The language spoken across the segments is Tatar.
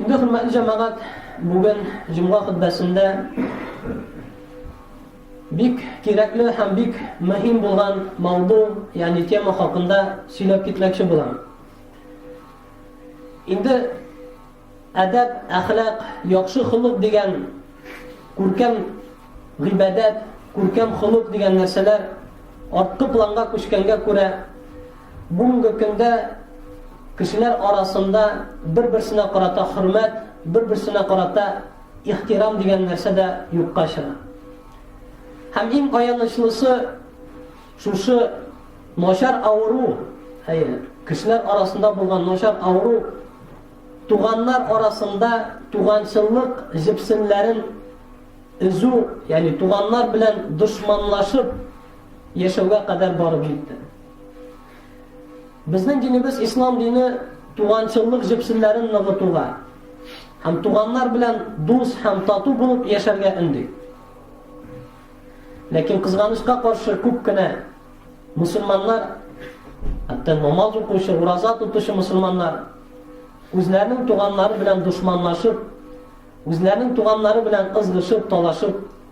Инде хөрмәтле җәмәгать, бүген җомга хөтбәсендә бик кирәкле һәм бик мөһим булган мавду, ягъни тема хакында сөйләп китмәкче булам. Инде әдәп, әхлак, яхшы холык дигән күркәм гыйбадәт, күркәм холык дигән нәрсәләр арткы планга күчкәнгә күрә, Бүгенге көндә кешеләр арасында бер-берсенә карата хөрмәт, бер-берсенә карата ихтирам дигән нәрсә дә юкка чыга. Һәм иң аянычлысы шушы начар авыру, әйе, кешеләр арасында булган начар авыру туганнар арасында туганчыллык җепсеннәрен өзү, ягъни туганнар белән дошманлашып, Яшәүгә кадәр барып җитте. Безнең динебез ислам дине туганчыллык җепсеннәрен ныгытуга һәм туганнар белән дус һәм тату булып яшәргә өнди. Ләкин кызганычка каршы күп кенә мусульманнар, хәтта намаз укучы, ураза тотучы мусульманнар үзләренең туганнары белән дошманлашып, үзләренең туганнары белән кызгышып, талашып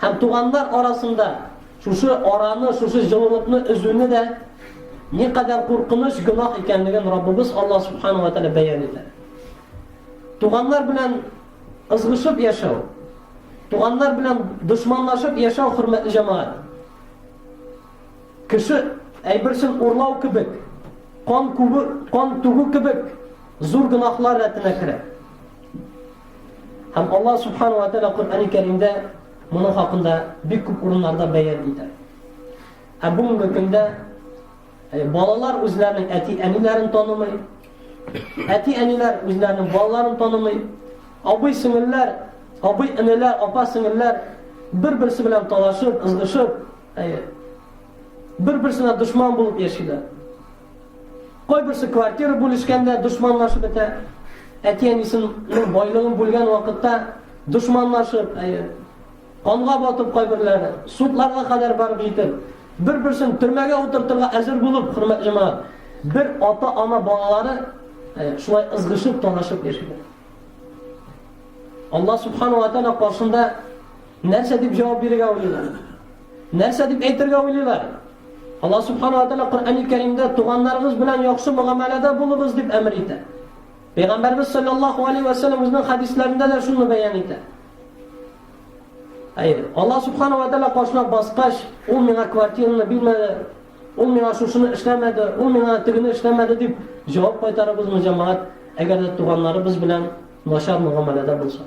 Һәм туганнар арасында шушы араны, шушы җылылыкны өзүне дә никадәр куркыныч гөнаһ икәнлеген Раббыбыз Алла субханала тәгалә бәян итә. Туганнар белән ызгышып яшәү, туганнар белән дошманлашып яшәү хөрмәтле җәмәгать. Кеше әйберсен урлау кебек, кан күбе, кан түгү кебек зур гөнаһлар рәтенә керә. Һәм Аллаһ Субхану ва Тәала Коръәни Кәримдә моның хакында бик күп урыннарда бәян итә. Ә бүгенге көндә э, балалар үзләренең әти-әниләрен танымый, әти-әниләр үзләренең балаларын танымый, абый-сеңелләр, абый-энеләр, апа-сеңелләр бер-берсе белән талашып, ызгышып, э, бер-берсенә дошман булып яшиләр. Кайберсе квартира бүлешкәндә дошманлашып бетә. Әти-әнисенең байлыгын бүлгән вакытта дошманлашып, әйе, канга батып кайберләре, судларга кадәр барып җитеп, бер-берсен төрмәгә утыртырга әзер булып, хөрмәтле җәмәгать, бер ата-ана балалары шулай ызгышып, талашып яшиләр. Алла субхану ва тааля каршында нәрсә дип җавап бирергә уйлыйлар? Нәрсә дип әйтергә уйлыйлар? Алла Субхана ва Тәгалә Коръәни Кәримдә туганнарыгыз белән яхшы мөгамәләдә булыгыз дип әмер итә. Пәйгамбәрбез саллаллаху алейһи ва сәлләм үзенең хәдисләрендә дә шуны бәян итә. Әйе, Алла Субхана ва Тәгалә кашына баскач, ул миңа квартираны бирмәде, ул миңа шушыны эшләмәде, ул миңа тегене эшләмәде дип җавап кайтарабызмы, җәмәгать, әгәр дә туганнарыбыз белән начар мөгамәләдә булсак?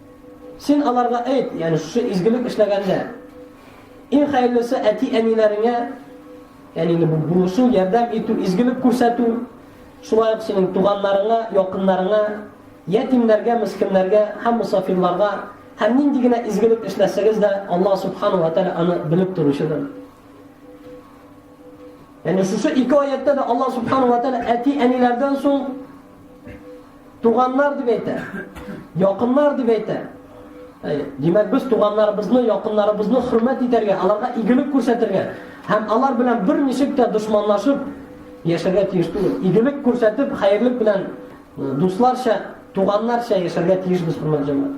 Син аларга әйт, ягъни шушы изгелек эшләгәндә, иң хәерлесе әти-әниләреңә, ягъни инде бу булышу, ярдәм итү, изгелек күрсәтү, шулай ук синең туганнарыңа, якыннарыңа, ятимнәргә, мескеннәргә һәм мусафирларга һәм нинди генә изгелек эшләсәгез дә, Аллаһ субханаһу ва тааля аны белеп торучыдыр. Яни шушы ике аяттә дә Аллаһ субхана ва тәала әти-әниләрдән соң туганнар дип әйтә. Якыннар дип әйтә. Димәк, без туганнарыбызны, якыннарыбызны хөрмәт итәргә, аларга игелек күрсәтергә һәм алар белән бер ничек тә дошманлашып яшәргә тиеш түгел. Игелек күрсәтеп, хәерлек белән дусларча, туганнарча яшәргә тиешбез, хөрмәтле җәмәгать.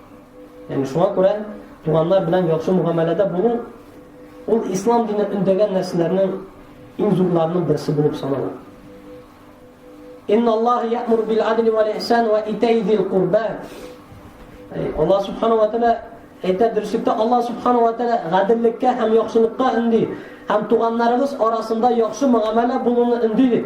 Ягъни шуңа күрә туганнар белән яхшы мөгамәләдә булу ул ислам дине өндәгән нәрсәләрнең иң зурларының берсе булып санала. Инналлаһ я'муру бил адли ва ихсан ва итәй зил курба. Аллаһ субхану ва тааля әйтә дөреслектә Аллаһ субхану ва тааля гаделлеккә һәм яхшылыкка өнди һәм туганнарыбыз арасында яхшы мөгамәлә булуны өнди дип.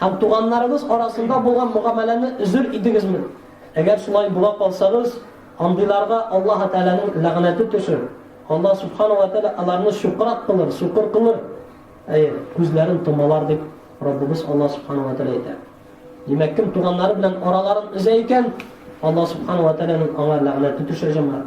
Һәм туганнарыгыз арасында булган мөгамәләне өзер идегезме? Әгәр шулай була калсагыз, андыйларга Аллаһы Тәгаләнең ләгънәте төшер. Аллаһ Сүбхәнәһү вә Тәгалә аларны чукрак кылыр, сукыр кылыр, әйе, күзләрен томалар, дип Раббыбыз Аллаһ Сүбхәнәһү вә Тәгалә әйтә. Димәк, кем туганнары белән араларын өзә икән, Аллаһ Сүбхәнәһү вә Тәгаләнең аңа ләгънәте төшә, җәмәгать.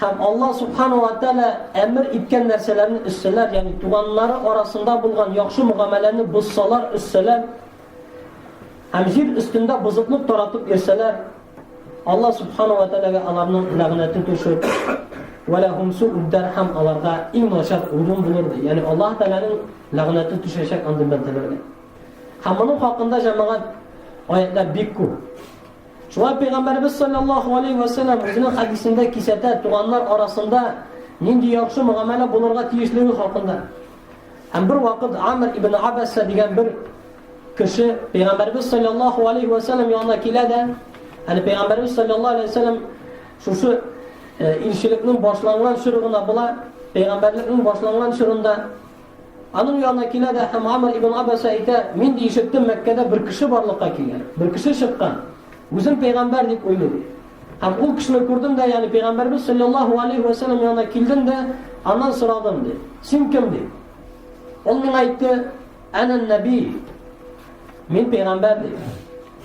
Һәм Аллаһ Субхана уа Тәгалә әмер иткән нәрсәләрне өзсәләр, ягъни туганнары арасында булган яхшы мөгамәләне бозсалар, өзсәләр, һәм җир өстендә бозыклык таратып йөрсәләр, Аллаһ Субхана уа Тәгаләгә аларның ләгънәте төшер. Вәләһум сууддар һәм аларга иң начар урын булыр ди. Ягъни Аллаһ Тәгаләнең ләгънәте төшәчәк андый бәндәләргә. Һәм моның хакында җәмәгать аятлар бик күп. Шулай Пәйгамбәребез салләллаһу алейһи вә сәлләм үзенең хәдисендә кисәтә туганнар арасында нинди яхшы мөгамәлә булырга тиешлеге хакында. Һәм бер вакыт Амр ибн Абасса дигән бер кеше Пәйгамбәребез салләллаһу алейһи вә сәлләм янына килә дә, әле Пәйгамбәребез салләллаһу алейһи вә сәлләм шушы э, илчелекнең башланган чоры гына була, Пәйгамбәрлекнең башланган чорында Аның янына килә дә һәм Амр ибн Абаса әйтә, Мин дә ишеттем, Мәккәдә бер кеше барлыкка килгән, бер кеше чыккан. Үзен пәйгамбәр дип уйлый. Һәм ул кешене күрдем дә, ягъни пәйгамбәрбез саллаллаһу алейһи ва саллям янына килдем дә, аннан сорадым, ди. Син кем, ди? Ул миңа әйтте, Әнә нәби. Мин пәйгамбәр, ди.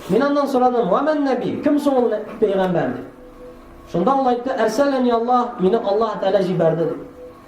Мин аннан сорадым, Ва мән нәби? Кем соң ул пәйгамбәр, ди? Шунда ул әйтте, Әрсәләни Аллаһ, мине Аллаһ Тәгалә җибәрде, ди.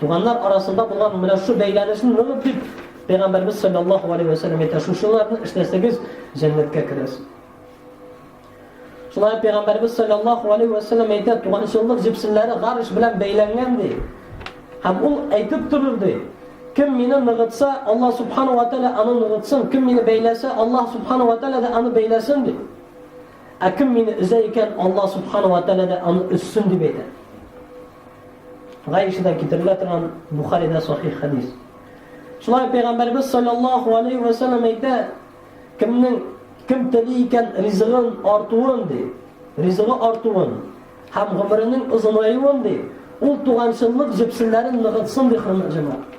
Туганнар арасында булган менә шу бәйләнешен ныгыт дип, Пәйгамбәрбез саллаллаһу алейһи ва сәлләм әйтә, шушыларны эшләсәгез, җәннәткә керәсез. Шулай Пәйгамбәрбез саллаллаһу алейһи ва сәлләм әйтә, туганчыллык җепсеннәре гарш белән бәйләнгән ди. Һәм ул әйтеп торыр ди, кем мине ныгытса, Алла субхану ва тәгалә аны ныгытсын, кем мине бәйләсә, Алла субхану ва тәгалә дә аны бәйләсен ди. Ә кем мине өзә икән, Алла субхану ва тәгалә дә аны өссен дип әйтә. Гайшәдән китерелә торган Бухаридә сахих хәдис. Шулай пәйгамбәрбез саллаллаһу алейхи ва саллям әйтә, кемнең кем тели икән ризыгын артуын ди, ризыгы артуын һәм гомеренең озынаюын ди, ул туганчыллык җепселләрен ныгытсын ди хөрмәт җәмәгать.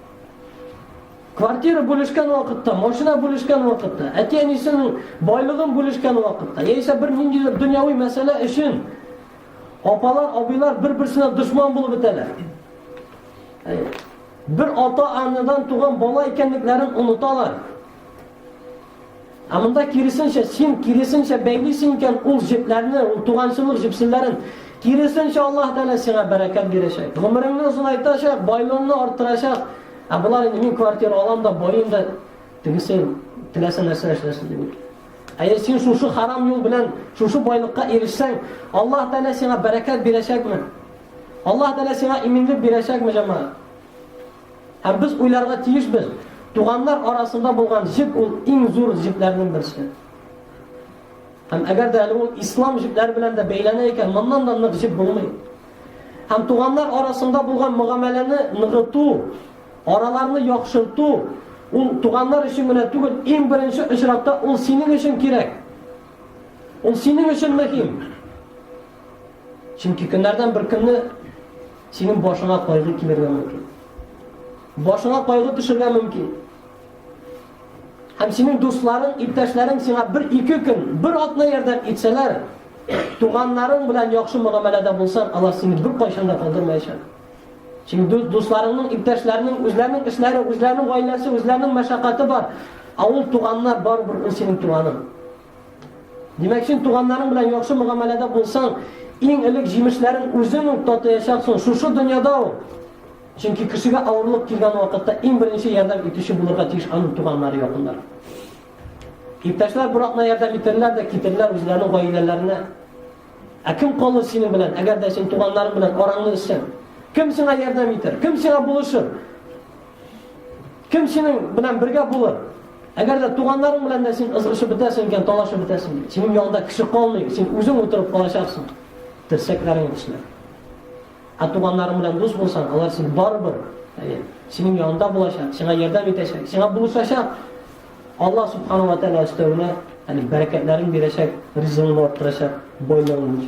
Квартира бүлешкән вакытта, машина бүлешкән вакытта, әти-әнисенең байлыгын бүлешкән вакытта, яисә бер ниндидер дөньяви мәсьәлә өчен апалар, абыйлар бер-берсенә дошман булып бетәләр. Бер ата-анадан туган бала икәнлекләрен оныталар. Ә монда киресенчә, син киресенчә бәйлисең икән ул җепләрне, ул туганчылык җепселләрен. Киресенчә Аллаһ Тәгалә сиңа бәрәкәт бирәчәк. Гомереңне озынайтачак, байлыгыңны арттырачак. Ә болар инде мин квартира алам да, байым да тегесе теләсә нәрсә эшләсен дип. Әгәр син шушы харам юл белән шушы байлыкка ирешсәң, Аллаһ Тәгалә сиңа бәрәкәт бирәчәкме? Аллаһ Тәгалә сиңа иминлек бирәчәкме, җәмәгать? Һәм без уйларга тиешбез, туганнар арасында булган җеп ул иң зур җепләрнең берсе. Һәм әгәр дә әле ул ислам җепләре белән дә бәйләнә икән, моннан да нык җеп булмый. Һәм туганнар арасында булган мөгамәләне ныгыту, араларны яхшырту, ул туганнар өчен генә түгел, иң беренче очракта ул синең өчен кирәк. Ул синең өчен мөһим. Чөнки көннәрдән бер көнне синең башыңа кайгы килергә мөмкин. Башыңа кайгы төшергә мөмкин. Һәм синең дусларың, иптәшләрең сиңа бер ике көн, бер атна ярдәм итсәләр, туганнарың белән яхшы мөгамәләдә булсаң, алар сине бер кайчан да калдырмаячак. Чөнки дусларыңның, иптәшләрнең үзләренең эшләре, үзләренең гаиләсе, үзләренең мәшәкате бар. Ә ул туганнар барыбер ул синең туганың. Димәк, син туганнарың белән яхшы мөгамәләдә булсаң, иң элек җимешләрен үзең үк татыячаксың, шушы дөньяда ул. Чөнки кешегә авырлык килгән вакытта иң беренче ярдәм итүче булырга тиеш аның туганнары, якыннары. Иптәшләр Буратна ярдәм итерләр дә китерләр үзләренең гаиләләренә. Ә кем калыр синең белән, әгәр дә син туганнарың белән араңны эзсәң? Кем сиңа ярдәм итер? Кем сиңа булышыр? Кем синең белән бергә булыр? Әгәр дә туганнарың белән дә син ызгышып бетәсең икән, талашып бетәсең, синең янында кеше калмый, син үзең утырып калачаксың. Терсәкләрең үсмә. Ә туганнарың белән дус булсаң, алар син барыбер, әйе, синең янында булачак, сиңа ярдәм итәчәк, сиңа булышачак. Алла субхану ва тааля өстәвенә, әни бәрәкәтләрен бирәчәк, ризыгыңны арттырачак, байлыгыңны.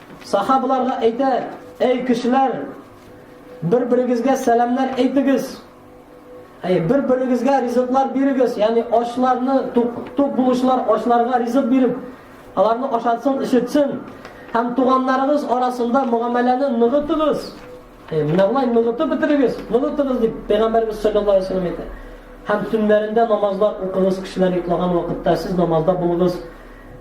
Сахабаларга әйтә, әй кешеләр, бер-берегезгә сәламнәр әйтегез. Әй, бер-берегезгә ризыклар бирегез, ягъни ачларны тук, тук булучылар ачларга ризык биреп, аларны ашатсын, ишетсен. Һәм туганнарыгыз арасында мөгамәләне ныгытыгыз. Әй, менә болай ныгытып бетерегез, ныгытыгыз дип Пәйгамбәрбез саллаллаһу алейһи ва сәлләм әйтә. Һәм төннәрендә намазлар укыгыз, кешеләр йоклаган вакытта сез намазда булыгыз.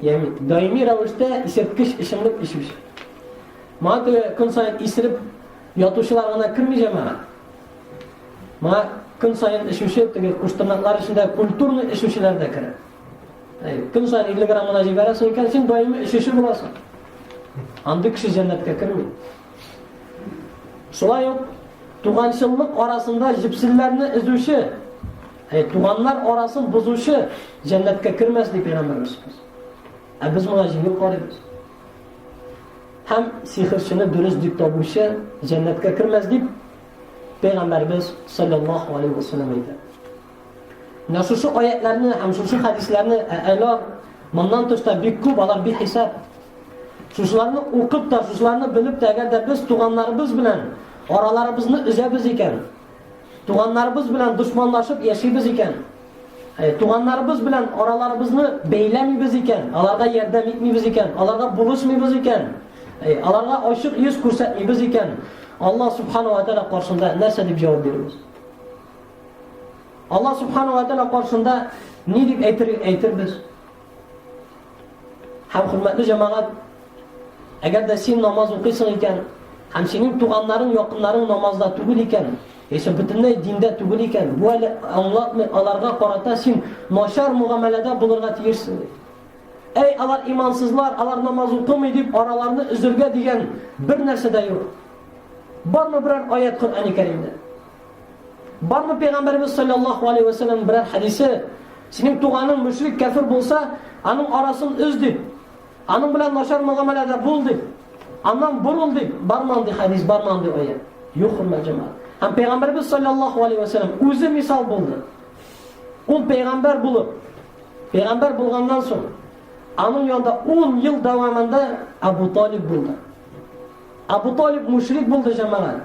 Ягъни даими рәвештә исерткеч эчемлек эчүче. Моңа теге көн саен исереп ятучылар гына керми җәмәгать. Моңа көн саен эчүче теге куштырнаклар эчендә культурный эчүчеләр дә керә. Әй, көн саен 50 грамм гына җибәрәсең икән, син даими эчүче буласың. Андый кеше җәннәткә керми. Шулай ук туганчыллык арасында җепсилләрне эзүче Әй, туганнар арасын бозучы җәннәткә кермәс дип пәйгамбәребез. Ә без моңа җиңел карыйбыз. Һәм сихерчене дөрес дип табучы җәннәткә кермәс дип пәйгамбәребез саллаллаһу алейхи ва саллям әйтә. Менә шушы аятларны һәм шушы хәдисләрне әләр моннан тыш та бик күп алар бик хисап. Шушыларны укып та, шушыларны белеп тә, әгәр дә без туганнарыбыз белән араларыбызны өзәбез икән, Туганнарыбыз белән дошманлашып яшибез икән, Э, туганнарыбыз белән араларыбызны бәйләмибез икән, аларга ярдәм итмибез икән, аларга булышмыйбыз икән, э, аларга ачык йөз күрсәтмибез икән, Алла субхану ва тәала каршында нәрсә дип җавап бирәбез? Алла субхану ва тәала каршында ни дип әйтер әйтербез? Һәм хөрмәтле җәмәгать, әгәр дә син намаз укыйсың икән, һәм синең туганнарың, якыннарың намазда түгел икән, яисә бөтенләй диндә түгел икән, бу әле аңлатмый, аларга карата син начар мөгамәләдә булырга тиешсең. Әй, алар имансызлар, алар намаз укымый дип араларны өзергә дигән бер нәрсә дә юк. Бармы берәр аят Коръәни Кәримдә? Бармы пәйгамбәрбез саллаллаху алейһи ва саллям берәр хәдисе? Синең туганың мөшрик кәфир булса, аның арасын үз дип, аның белән начар мөгамәләдә бул дип, аннан борыл дип, бармы андый хәдис, бармы андый аят? Юк, хөрмәт җәмәгать. Һәм пәйгамбәрбез саллаллаху алейһи ва саллям үзе мисал булды. Ул пәйгамбәр булып, пәйгамбәр булганнан соң, аның янында 10 ел дәвамында Абу Талиб булды. Абу Талиб мөшрик булды җәмәгать.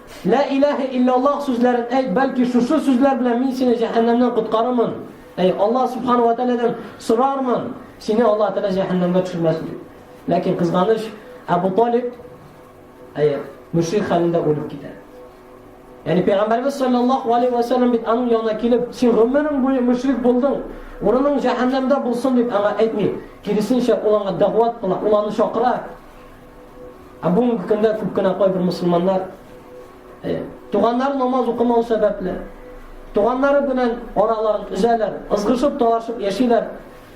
Лә иләһә илляллаһ сүзләрен әйт, бәлки шушы сүзләр белән мин сине җәһәннәмнән коткарырмын. Әй, Аллаһ субхана ва тәгаләдән сорармын, сине Аллаһ тәгалә җәһәннәмгә төшермәсен дип. Ләкин кызганыч, Әбу Талиб әй, мөшрик хәлендә үлеп китә. Яни пәйгамбәрбез саллаллаһу алейхи ва саллям бит аның янына килеп, син гомерең буе мөшрик булдың, урының җәһәннәмдә булсын дип аңа әйтми. Киресенчә, ул аңа дәгъват кыла, ул аны чакыра. Ә бүгенге көндә күп кенә кайбер мусульманнар э, туганнар намаз укымау сәбәпле, туганнары белән араларын өзәләр, ызгышып, талашып яшиләр.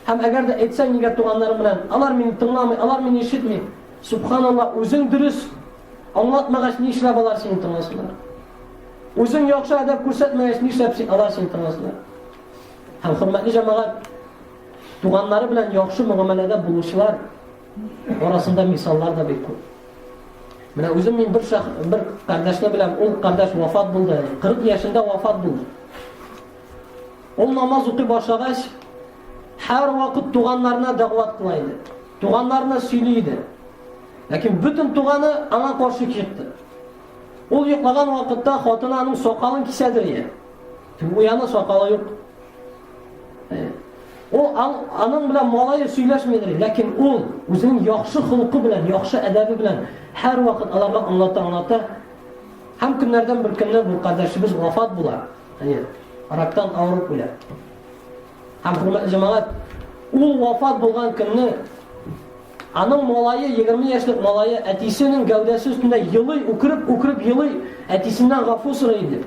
Һәм әгәр дә әйтсәң нигә туганнары белән, алар мине тыңламый, алар мине ишетми. Субханаллаһ, үзең дөрес аңлатмагач ни эшләп алар сине тыңласыннар? Үзең яхшы әдәп күрсәтмәгәч ни эшләп алар сине тыңласыннар? Һәм хөрмәтле җәмәгать, туганнары белән яхшы мөгамәләдә булучылар Арасында мисаллар да бик күп. Менә үзем мин бер шах, бер кардәшне беләм, ул кардәш вафат булды. 40 яшендә вафат булды. Ул намаз укый башлагач, һәр вакыт туганнарына дәгъват кыла иде. Туганнарына сөйли иде. Ләкин бөтен туганы аңа каршы чыкты. Ул йоклаган вакытта хатыны аның сакалын кисәдер иде. Буяны сакалы юк. Ул аның белән малае сөйләшмидер, ләкин ул үзенең яхшы холкы белән, яхшы әдәбе белән һәр вакыт аларга аңлата, аңлата. Һәм көннәрдән бер көнне бу кардәшебез вафат була. Әйе, рактан авырып үлә. Һәм хөрмәтле җәмәгать, ул вафат булган көнне аның малае, 20 яшьлек малае әтисенең гәүдәсе өстендә елый, үкереп, үкереп елый, әтисеннән гафу сорый иде.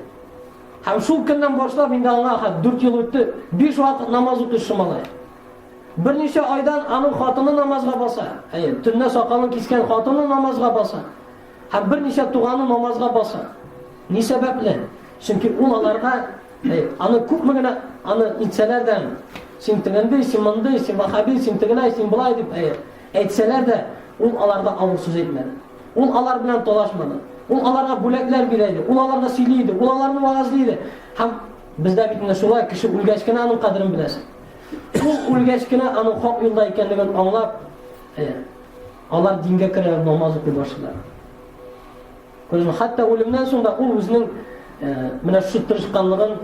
Һәм шул көннән башлап инде аңа хәт дүрт ел үтте, биш вакыт намаз укучы малай. Берничә айдан аның хатыны намазга баса. Әйе, төнлә сакалын кискән хатыны намазга баса. Һәм берничә туганы намазга баса. Ни сәбәпле? Чөнки ул аларга аны күпме генә аны итсәләр дә, син тегендей, син мондый, син вахаби, син тегеләй, син болай дип, әйе, Әйтсәләр дә, ул аларда авыр сүз әйтмәде. Ул алар белән талашмады. Ул аларга бүләкләр бирә иде, ул аларга сөйли иде, ул аларны вагазлый иде. Һәм бездә бит менә шулай кеше үлгәч кенә аның кадерен беләсең. Ул үлгәч кенә аның хак юлда икәнлеген аңлап, алар дингә керә, намаз укый башлыйлар. Күрәсең, хәтта үлемнән соң да ул үзенең менә шушы тырышканлыгын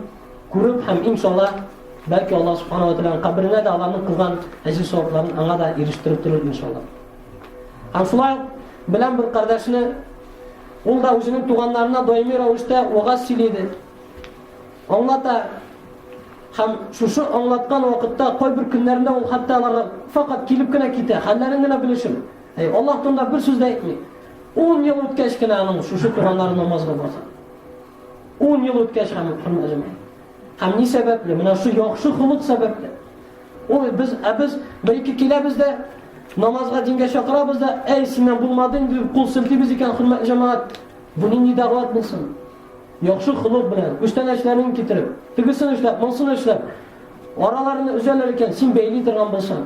күреп һәм иншалла, бәлки Аллаһ субхана ва тәгаләнең каберенә дә аларның кылган әҗер савапларын аңа да ирештереп торыр иншалла. Һәм шулай белән бер кардәшне ул да үзенең туганнарына даими рәвештә вагаз сөйли иде. Аңлата һәм шушы аңлаткан вакытта кайбер көннәрендә ул хәтта аларга факат килеп кенә китә, хәлләрен генә белешеп, Аллаһ турында бер сүз дә әйтми. Ун ел үткәч кенә аның шушы туганнары намазга баса. Ун ел үткәч һәм хөрмәләмә. Һәм ни сәбәпле? Менә шу яхшы хулык сәбәпле. Ул без ә без бер ике киләбез дә намазга дингә чакырабыз да, әй синнән булмады инде дип кул селтибез икән хөрмәтле җәмәгать. Бу нинди дәгъват булсын? Яхшы хулык белән күчтәнәчләрен китереп, тегесен эшләп, монысын эшләп араларны өзәләр икән, син бәйли торган булсаң.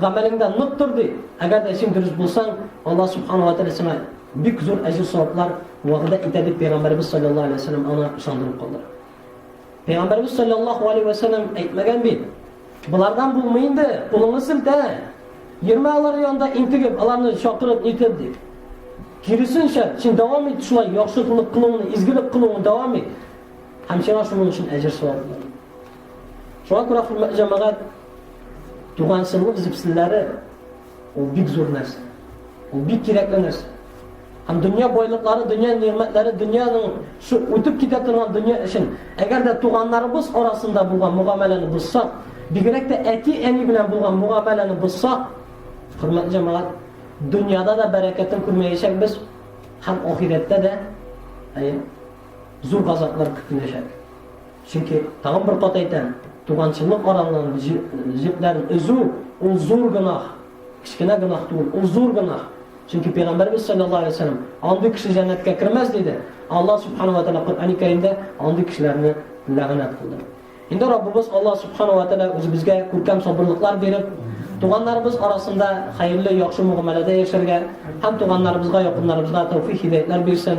Гамәлеңдә нык тор, ди. Әгәр дә син дөрес булсаң, Аллаһ Субхана ва Тәгалә сиңа бик зур әҗер-саваплар вәгъдә итә, дип Пәйгамбәрбез саллаллаһу алейһи ва сәлләм аны ышандырып калдыра. Пәйгамбәрбез саллаллаһу алейһи ва сәлләм әйтмәгән бит. Болардан булмый инде, кулыңны силтә. Йөрмә алар янында интегеп, аларны чакырып нитеп ди. Киресенчә, син дәвам ит шулай яхшылык кылуыңны, изгелек кылуыңны дәвам ит. Һәм сиңа шуның өчен әҗер савап Шуңа күрә, хөрмәтле җәмәгать, туганчыллык җепселләре ул бик зур нәрсә. Ул бик кирәкле нәрсә. Һәм дөнья байлыклары, дөнья нигъмәтләре, дөньяның шу үтеп китә торган дөнья өчен, әгәр дә туганнарыбыз арасында булган мөгамәләне бозсак, бигрәк тә әти-әни белән булган мөгамәләне бозсак, хөрмәтле җәмәгать, дөньяда да бәрәкәтен күрмәячәкбез һәм ахирәттә дә зур газаплар көтеләчәк. Чөнки, тагын бер кат әйтәм, туганчылык аралыгын, җепләрен өзү, ул зур гөнаһ. Кечкенә гөнаһ түгел, ул зур гөнаһ. Чөнки Пәйгамбәрбез саллаллаһу алейһи ва саллям, андый кеше җәннәткә кермәс диде. Аллаһ субханаһу ва тааля Коръәни Кәримдә андый кешеләрне ләгънәт кылды. Инде Раббыбыз Аллаһ субханаһу ва тааля үзебезгә күркәм сабырлыклар биреп, туганнарыбыз арасында хәерле, яхшы мөгамәләдә яшәргә һәм туганнарыбызга, якыннарыбызга тәүфик-һидаятлар бирсен.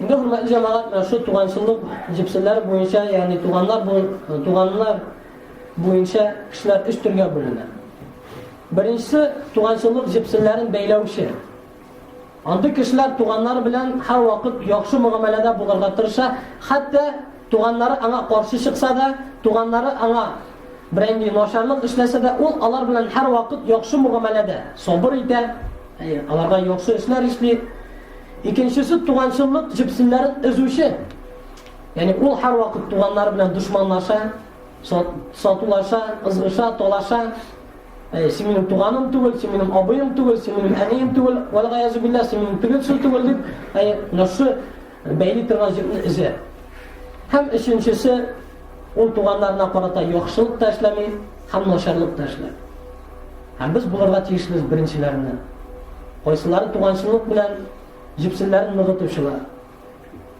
Инде хөрмәтле җәмәгать, менә шу туганчыллык җепселләре буенча, ягъни туганнар бу туганнар буенча кешеләр өч төргә бүленә. Беренче туганчыллык җепселләрен бәйләүче. Андый кешеләр туганнар белән һәр вакыт яхшы мөгамәләдә булырга тырыша, хәтта туганнары аңа каршы чыкса да, туганнары аңа берәнди начарлык эшләсә дә, ул алар белән һәр вакыт яхшы мөгамәләдә, сабыр итә, Әйе, аларда яхшы эшләр эшли. Икенчесе туганчыллык җепсеннәрен өзүче. Ягъни ул һәрвакыт туганнары белән душманлаша, сатулаша, ызгыша, талаша. Әйе, син минем туганым түгел, син минем абыем түгел, син минем әнием түгел, вәлгаяз билла, син минем түгел, син түгел дип, әйе, нәрсә Бәйли торган җепне өзә. Һәм өченчесе ул туганнарына карата яхшылык та эшләми, һәм начарлык та эшләми. Һәм без булырга тиешле беренчеләрне. Кайсылары туганчылык белән җепсеннәрен ныгытучылар.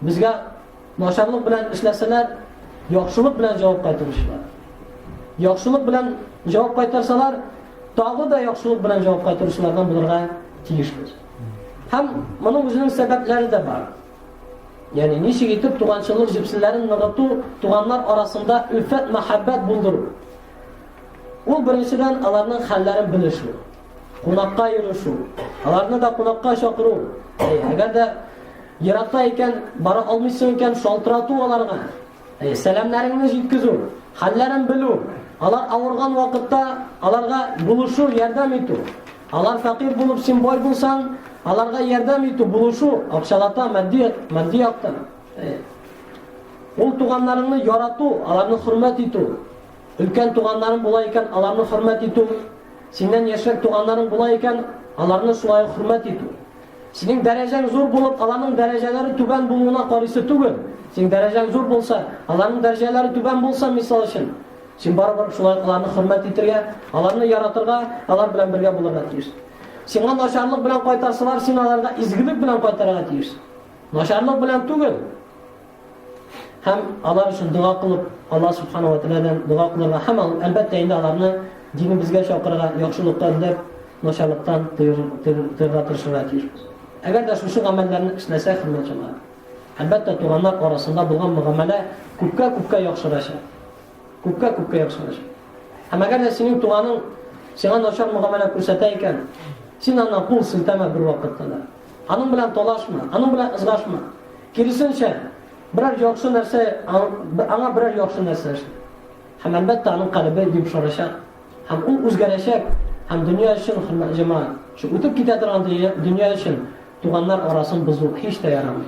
Безгә начарлык белән эшләсәләр, яхшылык белән җавап кайтаручылар. Яхшылык белән җавап кайтарсалар, тагы да яхшылык белән җавап кайтаручылардан булырга тиешбез. Һәм моның үзенең сәбәпләре дә бар. Ягъни ничек итеп туганчылык җепселләрен ныгыту, туганнар арасында үлфәт мәхәббәт булдыру. Ул беренчедән аларның хәлләрен белешү, кунакка йөрү, аларны да кунакка чакыру. Әгәр дә еракта икән, бара алмыйсың икән, шалтырату аларга. Сәламнәреңне җиткезү, хәлләрен белү, алар авырган вакытта аларга булышу, ярдәм итү. Алар фәкыйрь булып син бай булсаң, аларга ярдәм итү, булышу, акчалата, матди, матди яктан. Ул туганнарыңны ярату, аларны хөрмәт итү. Өлкән туганнарың була икән, аларны хөрмәт итү. Синнән яшьрәк туганнарың була икән, аларны шулай хөрмәт итү. Синең дәрәҗәң зур булып, аларның дәрәҗәләре түбән булуына карыйсы түгел. Синең дәрәҗәң зур булса, аларның дәрәҗәләре түбән булса, мисал өчен, син барыбер шулай аларны хөрмәт итергә, аларны яратырга, алар белән бергә булырга тиеш. Сиңа начарлык белән кайтарсалар, син аларга изгелек белән кайтарырга тиеш. Начарлык белән түгел. Һәм алар өчен дога кылып, Алла Субхана ва Тәгаләдән дога кылырга һәм ал, әлбәттә инде аларны динебезгә чакырырга, яхшылыкка эзләп, начарлыктан тыйырга тырышырга тиешбез. Әгәр дә шушы гамәлләрне эшләсәк, хөрмәтле әлбәттә туганнар арасында булган мөгамәлә күпкә-күпкә яхшырачак. Күпкә-күпкә яхшырачак. Һәм әгәр дә синең туганың сиңа начар мөгамәлә күрсәтә икән, син аны кул селтәмә бер вакытта да. Аның белән талашма, аның белән ызгашма. Киресенчә, берәр яхшы нәрсә аңа берәр яхшы нәрсә эшлә. Һәм әлбәттә аның калебе йомшарачак. Һәм ул үзгәрәчәк. Һәм дөнья өчен хөрмәт җәмәгать. Шу үтеп китә торган дөнья өчен туганнар арасын бозу һич тә ярамый.